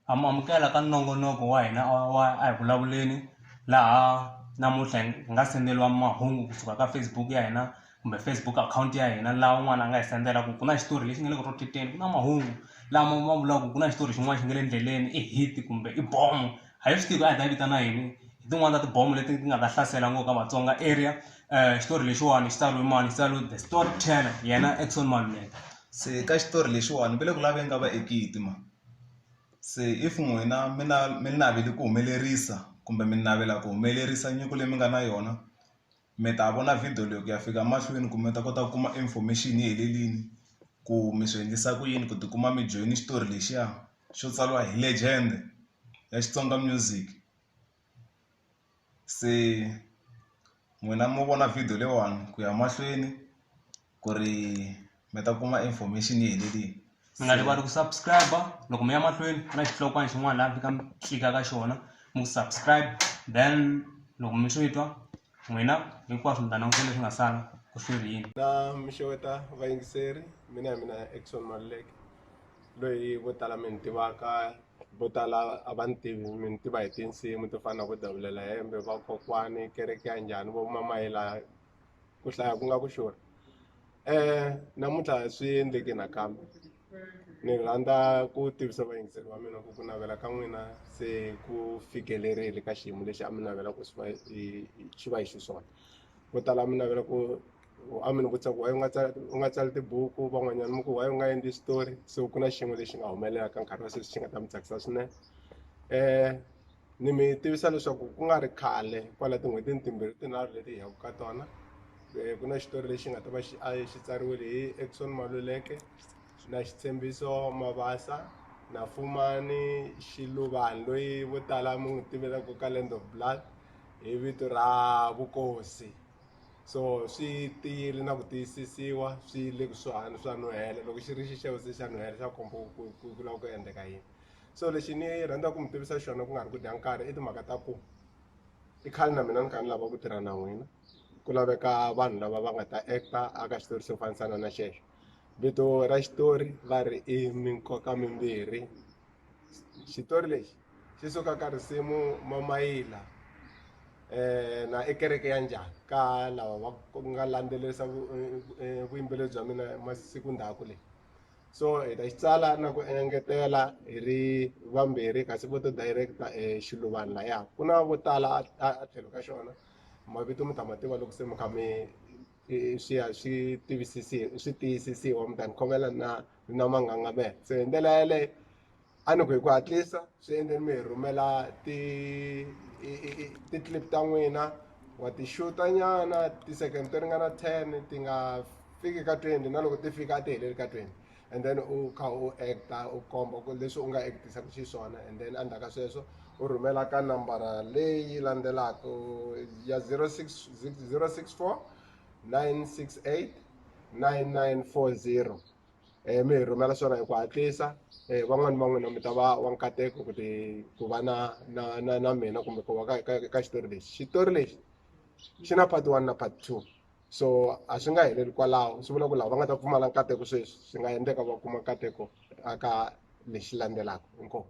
ha mu amukela ka nongonoko wa hina wa a hi vulavuleni laha namuntlha hi nga senderiwa mahungu kusuka ka facebook ya hina kumbe facebook account ya hina laha un'wana a nga hi sendela ku ku na xitori lexi nga le ku roteteni ku na mahungu lama ma vulaka ku na xitori xin'wana xi nga le endleleni i hit kumbe i bomo a hi swi tivi ku a hi ta yi vitana yini hi tin'wani ta tibomo leti ti nga ta hlasela ngopfu ka vatsonga area um xitori lexiwani xi tsariwe mani xi tsariwe the story teller yena exon maluleka se ka xitori lexiwani va le ku laveni ka vaekiti ma se if n'wina mi na mi navele ku humelerisa kumbe mi navela ku humelerisa nyiko leyi mi nga na yona. mi ta vona video leyi ku ya fika mahlweni ku mi ta kota ku kuma information yi helelini ku mi swi endlisa ku yini ku tikuma mi joyine xitori lexiya xo tsariwa hi legend ya Xitsonga music se n'wina mo vona video leyiwani ku ya mahlweni. ku ri mi ta kuma information yi helerile mi nga rivali ku subscribe loko mi ya mahlweni ku na xihlokwana xin'wana laha mi fika mi tlika ka xona mi ku subscribe then loko mi swi twa n'wina hinkwaswo mi ta languta leswi nga sala ku swi ri yini na mi xeweta vayingiseri mina hi mina exon maluleke loyi vo tala mi ni tivaka vo tala a va ni tivi mi ni tiva hi tinsimu to fana na vo davulela hembe vakokwani kereke ya njhani vo mamayela ku hlaya ku nga ku xurha um namuntlha swi endleke nakambe ni rhandza ku tivisa vayingiseri va mina ku ku navela ka n'wina se ku fikelerile ka xiyimo lexi a mi navela ku swi va xi va hi xiswona vo tala mi navela ku a mi ni vutisa ku waye u nga tsala u nga tsali tibuku van'wanyana mi ku waye u nga endli xitori se ku na xin'we lexi nga humelela ka nkarhi wa sweswi xi nga ta mi tsakisa swinene um ni mi tivisa leswaku ku nga ri khale kwala tin'hwetini timbirhi tinharhu leti hi yaka ka tona eh, ku na xitori lexi nga ta va xi xi tsariwile hi Exxon Maluleke na xitshembiso Mabasa na Fumani Xiluvani loyi vo tala mi n'wi tivelaka ka Land of Blood hi vito ra Vukosi so swi tiyile na ku tiyisisiwa swi le kusuhani swa nuhela loko xi ri xixevo se xa nuhela xa komba ku ku ku lava ku endleka yini. so lexi ni rhandzaka ku mi tivisa xona ku nga ri ku dya nkarhi i timhaka ta ku i khale na mina ni kha ni lava ku tirha na n'wina ku laveka vanhu lava va nga ta acta aka xitori xo fanisana na xexo vito ra xitori va ri i minkoka mimbirhi xitori lexi xi suka ka risimu mamayila eh, na i kereke ya njhani ka lava va nga landzelerisa eh, eh, vuyimbeleri bya mina masiku ndhaku leyi so hi ta xi tsala na ku engetela hi ri vambirhi kasi vo to directa e xiluvani laya ku na vo tala a tlhelo ka xona mavito mi ta ma tiva loko se mi kha mi swi ya swi tivisisiwa swi tiyisisiwa mi ta ni khomela na na mangangamela se hi ndlela yaleyo a ni ku hi ku hatlisa swi endleni mi hi rhumela ti ti-clip ta n'wina wa ti xuta nyana ti-second to ringana ten ti nga fiki ka twenty na loko ti fika a ti heleli ka twenty and then u kha u act-a u komba ku leswi u nga act-isaka xiswona and then endzhaku ka sweswo u rhumela ka nambara leyi landzelaka ya zero six zero six four nine six eight nine nine four zero. um mi hi rhumela swona hi ku hatlisa um van'wani va n'wina mi ta va wa nkateko ku ti ku va na na na na mina kumbe ku va ka ka ka xitori lexi xitori lexi xi na part one na part two so a swi nga heleli kwalaho swi vula ku lava va nga ta pfumala nkateko sweswi swi nga endleka va kuma nkateko aka lexi landzelaka inkomu